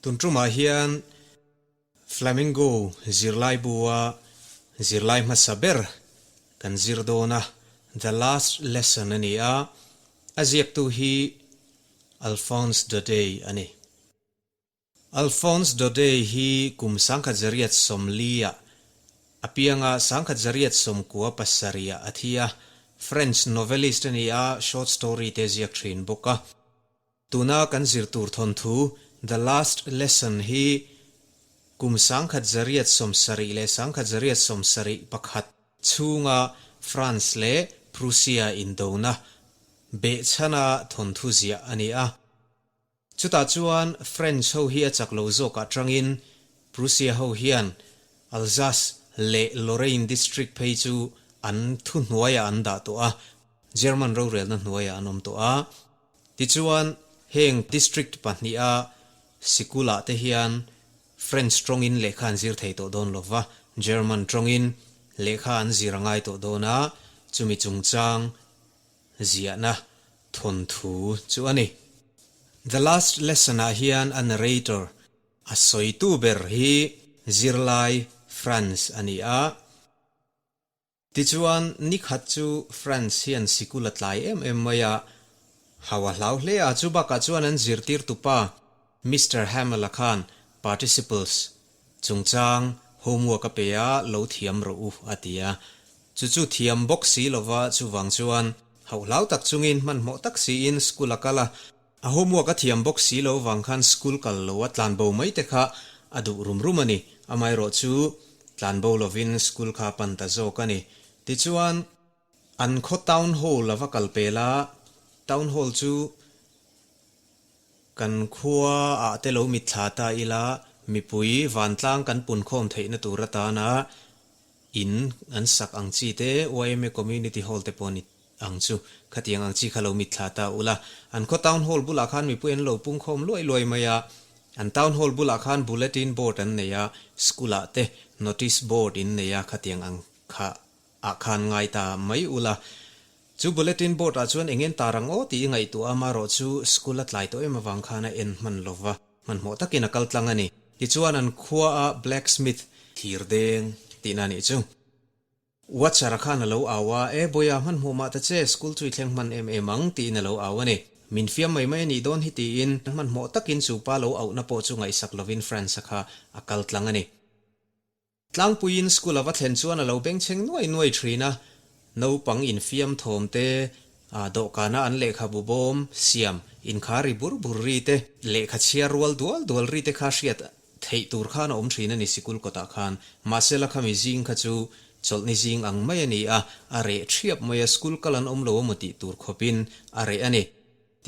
Tun ṭumah hian Flamingo zirlaibua zirlai hmasa ber kan zir dawn a, The Last Lesson a ni a, a ziaktu hi Alphonse Daudet a ni. Alphonse Daudet hi kum sangkhat Zariat Sawmlia a pianga sangkhat Zariat Sawmkua pasarih-ah a thi a, French novelist a ni a, short story te a ziak thin bawk a. Tuna kan zir tur thawnthu The Last Lesson hi kum sangkhat Zariat Sawmsarih leh sangkhat Zariat Sawmsarih pakhat chhunga France leh Prussia indona behchhana thawnthu ziah a ni a. Chutah chuan French ho hi a chak lo zawk aṭangin Prussia ho hian Alsace leh Lorraine district phei chu an thu hnuaiah an dah tawh a, German rorelna hnuaiah an awm tawh a. Tichuan, heng district pahniha sikul-ah te hian French ṭawngin lehkha an zir thei tawh dawn lo va, German ṭawngin lehkha an zir a ngai tawh dawn a, chumi chungchang ziahna thawnthu chu a ni. The Last Lesson-ah hian a narrator a sawitu ber hi zirlai Franz a ni a. Tichuan, nikhat chu Franz hian sikul a tlai em em mai a, hau a hlau hle a, chu bakah chuan an zirtirtupa, Mister Hamill-a khan participles chungchang homework a pe a, lo thiam rawh u a ti a. Chu chu thiam bawk si lova chuvang chuan hauh hlau tak chungin hmanhmawh tak siin school a kal a. A homework a thiam bawk si lo vang khan school kal lo a tlan bo mai te kha a duh rum rum a ni. Amaherawhchu tlan bo lovin school kha pan ta zawk a ni. Tichuan. An khaw Town Hall a va kal pel a, Town Hall chu kan khua ah te lo mit thla ta ila mipui vantlang kan pun khawm theih na tur atan a in an sak ang chi te yma Community Hall te pawh a ni ang chu khatiang ang chi kha lo mit thla ta ula an khaw Town Hall bulah khan mipui an lo pung khawm luai luai mai a, an Town Hall bulah khan Bulletin Board an nei a, School ah te Notice Board in nei a khatiang ang kha Ah khan ngai ta mai ula, chu bulletin board ah chuan eng en ta rang aw tih i ngaihtuah a, marawh chu school a tlai tawh em avang khan a en hman lo va, hmanhmawh takin a kal tlang a ni. Tichuan an khua a blacksmith thir deng tihna anih chu. Watcher a khan a lo au a, e bawia hmanhmawh mah ta che, school chu i thleng hman em em ang tiin a lo au a ni. Min fiam mai mai a nih dawn hi tiin hmanhmawh takin chu pa lo auhna pawh chu ngaihsak lovin Franz a kha a kal tlang a ni. Tlangpuiin school a va thlen chuan a lo bengchheng nuai nuai thin a, naupang infiam thawm te, a dawhkana an lehkha bu bawm, siam, inkhar ri bur bur ri te, lehkha chhiar rual dual dual ri te kha hriat theih tur khan a awm thin a ni sikul kawtah khan. Mahse la khami zing kha chu chawlhni zing ang mai a ni a, a reh thiap mai a, school kal an awm lo a maw tih tur khawpin a reh a ni.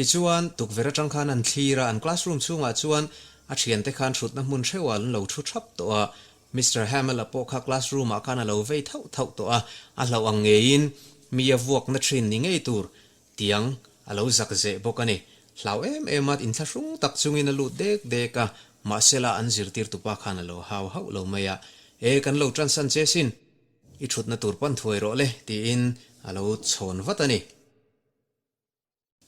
Tichuan, tukverh atang khan an thlir a, an classroom chhungah chuan a thiante khan thutna hmun hreu ah an lo thu thap tawh a, Mister Hamel-a pawh kha classroom ah khan a lo vei thauh thauh tawh a, a hlauh ang ngeiin mi a vuakna thin ni ngei tur tiang a lo zak zeh bawk a ni. Hlau em em a, intla hrung tak chungin a lut dek dek a, mahsela an zirtirtu pa khan a lo hau hauh lo mai a, E, kan lo transan che sin, i thutna tur pan thuai rawh le, tiin a lo chhawn vat a ni.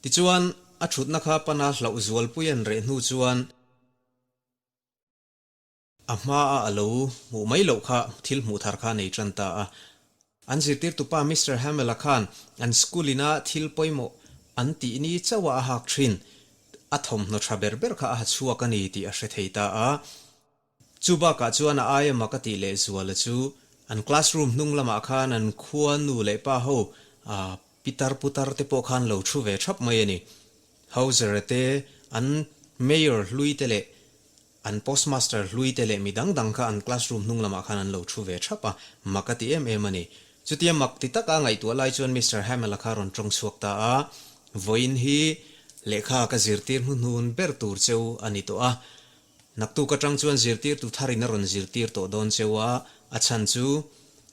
Tichuan, a thutna kha pana hlauh zualpui an reh hnu chuan a hmaa a lo hmuh mai loh kha thil hmuh thar kha a nei tan ta a. An zirtirtu pa Mister Hamel-a khan an school ina thil pawimawh an tih ni chauha a hak thin. A thawmhnaw tha ber ber kha a ha chhuak a ni tih a hre thei ta a. Chu bakah chuan a aia mak a tih leh zuala chu an classroom hnung lamah khan an khua nu leh pa ho a pitar putar te pawh khan lo thu ve thap mai a ni. Hozara te, an mayor hlui te leh an postmaster hlui te leh mi dang dang kha an classroom hnung lamah khan an lo thu ve thap a, mak a ti em em a ni. Chutia mak ti taka ngaihtuah lai chuan Mister Hamill a kha rawn tawng chhuak ta a, vawiin hi lehkha ka zirtir hnuhnun ber tur cheu a ni tawh a, Naktuk atang chuan zirtirtu thar in a rawn zirtir tawh dawn cheu a, a chhan chu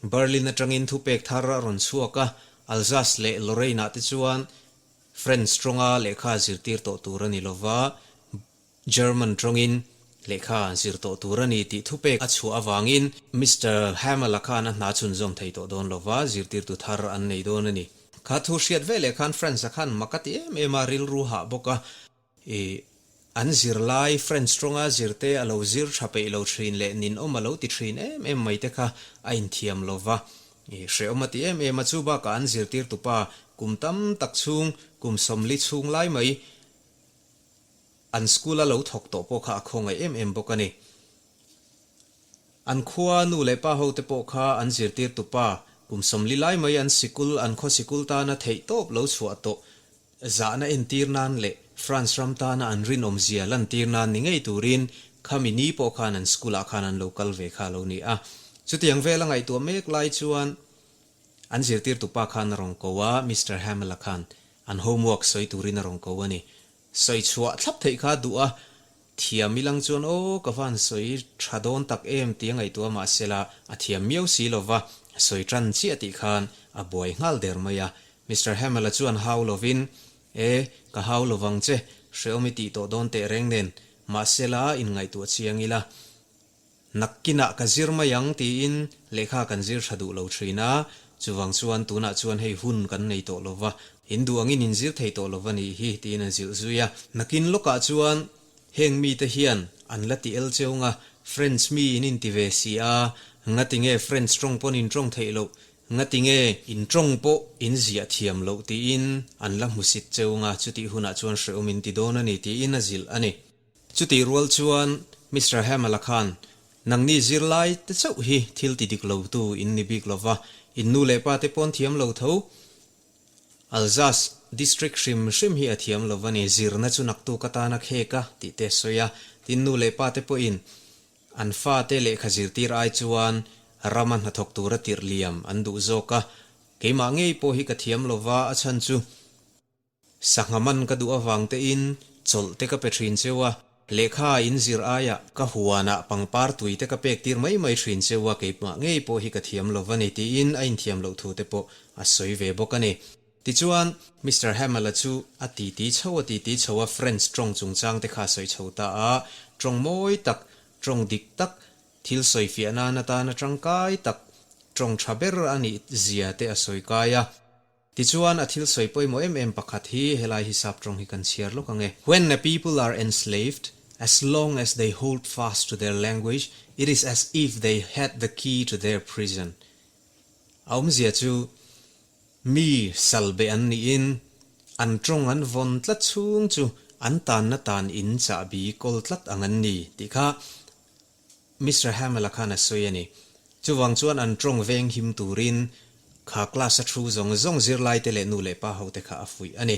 Berlin atangin thupek thar a rawn chhuak a, Alsace leh Lorraine-ah te chuan French tawnga lehkha zirtir tawh tur a ni lo va, German tawngin lehkha zir tawh tur a ni tih thupek a chhuah avangin, Mister Hamel-a khan a hna chhun zawm thei tawh dawn lo va, zirtirtu thar an nei dawn a ni. Kha thu hriat veleh khan France-a khan maka ti em em a, rilru hah bawk a. I an zir lai friends tawnga zirte a lo zir tha peih lo thin leh nin awm a lo ti thin em em mai te kha a inthiam lo va, i hrehawm a ti em em a chu bakah an zirtirtu pa kum tam tak chhung kum sawmli chhung lai mai an school a lo thawk tawh pawh kha a khawngaih em em bawk a ni. An khua nu leh pa ho te pawh kha an zirtirtu pa kum sawmli lai mai an sikul an khaw sikul tana theih tawp lo chhuah tawh zahna entir nan leh France ram tana an rinawm zia lantir nan ni ngei turin khami ni pawh khan an school ah khan an lo kal ve kha lo ni a, chutiang vel a ngaihtuah mek lai chuan an zirtirtu pa khan a rawn ko a, Mister Hamill a khan an homework sawi turin a rawn ko a ni. Sawi chhuah thlap theih kha duh a, Thiam milang chuan aw ka van sawi tha dawn tak em tia ngaihtuah mah sela a thiam miau si lo va, sawi tan chiah tih khan a buai nghal der mai a. Mister Hamill-a chuan hau lovin, E, ka hau lo vang che, hreawm i tih tawh dawn teh reng nen, mahsela in ngaihtuah chiang ila. Nakkinah ka zir mai ang tiin lehkha kan zir tha duh lo thin a, chuvang chuan tunah chuan hei hun kan nei tawh lo va, in duh angin in zir thei tawh lo va ni hi tiin an zilh zui a. Nakin lawkah chuan heng mite hian an la ti el cheung a, Friends mi in inti ve si a, ngati nge friends tawng pawn in tawng theih loh, ngati nge in tawng pawh in ziah thiam loh tiin an la hmusit cheung a, chutih hunah chuan hrehawm in ti dawn a ni tiin a zilh a ni. Chutih rual chuan Mister Hamala khan, Nangni zirlai te chauh hi thil ti dik lotu in ni bik lo va, in nu leh pa te pawn thiam lo tho. Alsace district hrim hrim hi a thiam lo va ni, zirna chu naktu ka tana khek a tih te a sawi a, tin nu leh pa te pawhin an fa te lehkha zirtir ai chuan ram a hnathawk tur a tirh liam an duh zawk a, keimah ngei pawh hi ka thiam lo va a chhan chu. Sangha man ka duh avang te in chawlh te ka pe thin cheu a, lehkha a inzir ai ah ka huan ah pangpar tui te ka pek tir mai mai thin cheu a, keimah ngei pawh hi ka thiam lo va ni ti in a in thiam loh thu te pawh a sawi ve bawk a ni. Ti chuan Mister Hamala chu a ti ti chho a ti ti chho a friends tawng chung chang te kha sawi chho ta a, tawng mawi tak, tawng dik tak, thil sawi fiah nan atan a tangkai tak, tawng tha ber a nih zia te a sawi kai a. Tichuan a thil sawi pawimawh em em pakhat hi helai hisap tawng hi kan chhiar lawk ange, When a people are enslaved, as long as they hold fast to their language, it is as if they had the key to their prison. A awmzia chu mi sal beh an niin an tawng an vawn tlat chhung chu an tanna tan in chahbi kawl tlat ang an ni tih kha Mister Hamel-a khan a sawi a ni. Chuvang chuan an tawng veng him turin kha class-a thu zawng zawng zirlaite leh nu leh pa hote kha a fuih a ni.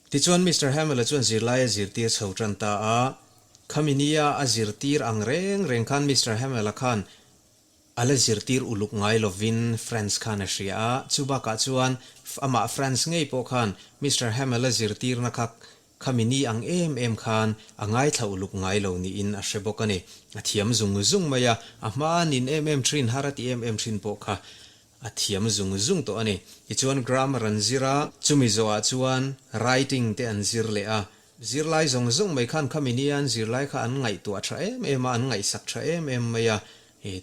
Tichuan Mister Hamel-a chuan zirlai a zirtir chho tan ta a. Khaminia a zirtir ang reng reng khan Mister Hamel-a khan a la zirtir uluk ngai lovin France khan a hria a. Chubakah chuan amah France ngei pawh khan Mister Hamel-a zirtirna kha Khami ni ang em em khan a ngaithla uluk ngai lo niin a hre bawk a ni. A thiam zung zung mai a, a hma a nin em em thin har a ti em em thin pawh kha a thiam zung zung tawh a ni. Tichuan grammar an zir a, chumi zawhah chuan writing te an zir leh a, zirlai zawng zawng mai khan khami ni an zirlai kha an ngaihtuah tha em em a, an ngaihsak tha em em mai a,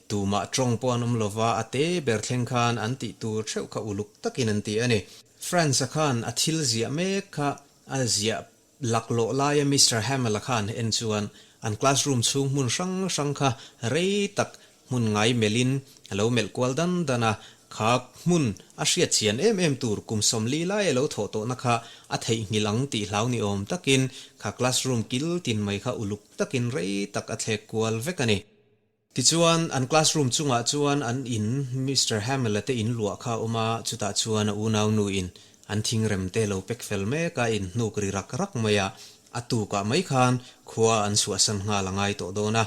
tumah tawng pawh an awm lo va, a te ber thleng khan an tih tur theuh kha uluk takin an ti a ni. France-a khan a thil ziah mek kha A ziah lak lawh laia Mister Hamel-a khan en chuan an classroom chhung hmun hrang hrang kha rei tak hmun ngai melhin a lo melh kual dan dan a, kha hmun a hriatchian em em tur kum sawmli lai a lo thawh tawhna kha a theihnghilh ang tih hlau ni awm takin kha classroom kil tin mai kha uluk takin rei tak a thlek kual vek a ni. Tichuan an classroom chungah chuan an in Mister Hamela te in luah kha a awm a, chutah chuan a unau nu in an thingrem te lo pek fel mek a, in hnuk ri rak rak mai a, a tukah mai khan khua an suahsan nghal a ngai tawh dawn a.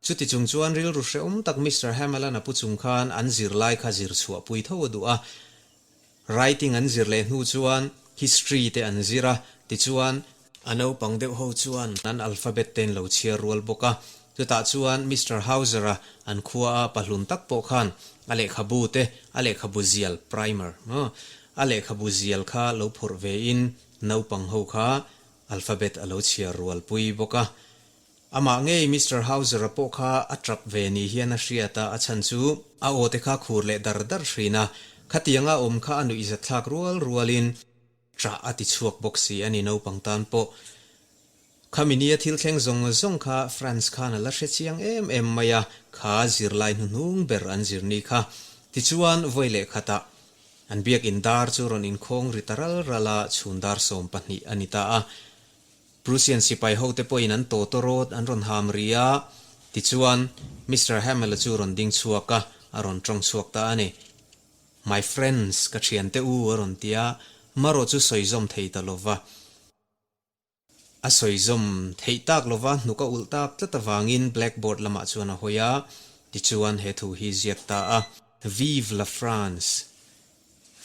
Chuti chung chuan rilru hrehawm tak Mister Hamelana pu chung khan an zir lai kha zir chhuah pui tho a duh a, Writing an zir leh hnu chuan History te an zir a, tichuan. A naupang deuh ho chuan an alphabet ten lo chhiar rual bawk a, chutah chuan Mister Hauser-a an khua a pahlun tak pawh khan a lehkhabu te, a lehkhabu zial, primer, a, a lehkhabu zial kha lo phurh ve in naupang ho kha alphabet a lo chhiar rual pui bawk a, Amah ngei Mister Hauser-a pawh kha a tap ve ni hian a hriat a, a chhan chu. A aw te kha khur leh dar dar hrin a, khatianga awm kha a nuih zat thlak rual rualin. Tra a ti chhuak bawk si a ni, naupang tan pawh kha mi nia thil thleng zawng zawng kha Franz khan a la hre chiang em em mai a, kha zir lai hnu hnung ber an zir ni kha. Tichuan vawi leh khatah an biak in dar chu rawn inkhawng ri ta ral ral a, chhun dar sawm pahnih a ni ta a. Prussian sipai hote pawhin an tawtawr rawt an rawn ham ri a, tichuan Mister Hammel-a chu rawn ding chhuak a, a rawn tawng chhuak ta a ni. My friends, ka thiante u a rawn ti a, Maro chu sawizawm thei ta lo va. A sawizawm theih tak lo va, hnuk a ulh tak tlat avangin blackboard lamah chuan a hawi a, tichuan he thu hi ziak ta a. Vive la France!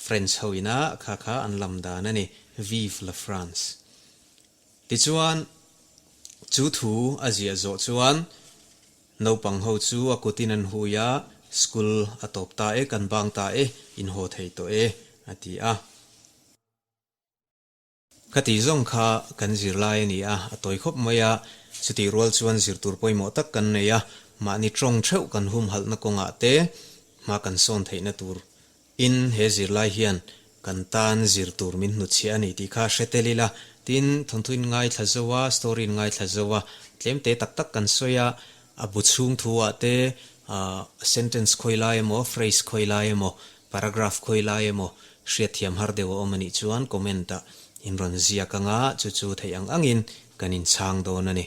French ho ina kha kha an lam dan a ni, Vive la France! Tichuan chu thu a ziah zawh chuan naupang ho chu a kutin an hui a, School a tawp ta e, kan bang ta e, inhaw thei tawh e, a ti a. Kha tih zawng kha kan zir lai a ni a, a tawi khawp mai a, chutih rual chuan zir tur pawimawh tak kan nei a, mahni tawng theuh kan humhalhna kawngah te hma kan sawn theihna tur in he zir lai hian kan tan zir tur min hnu chhiah a ni tih kha hre tel ila, tin thawnthuin ngaithla zo a, story-in ngaithla zo a, tlemte tak tak kan sawi a, A bu chhung thu ah te sentence khawi lai emaw, phrase khawi lai emaw, paragraph khawi lai emaw hriatthiam har deuh a awm a nih chuan comment ah in rawn ziak ang a, chu chu theih ang angin kan inchhang dawn a ni.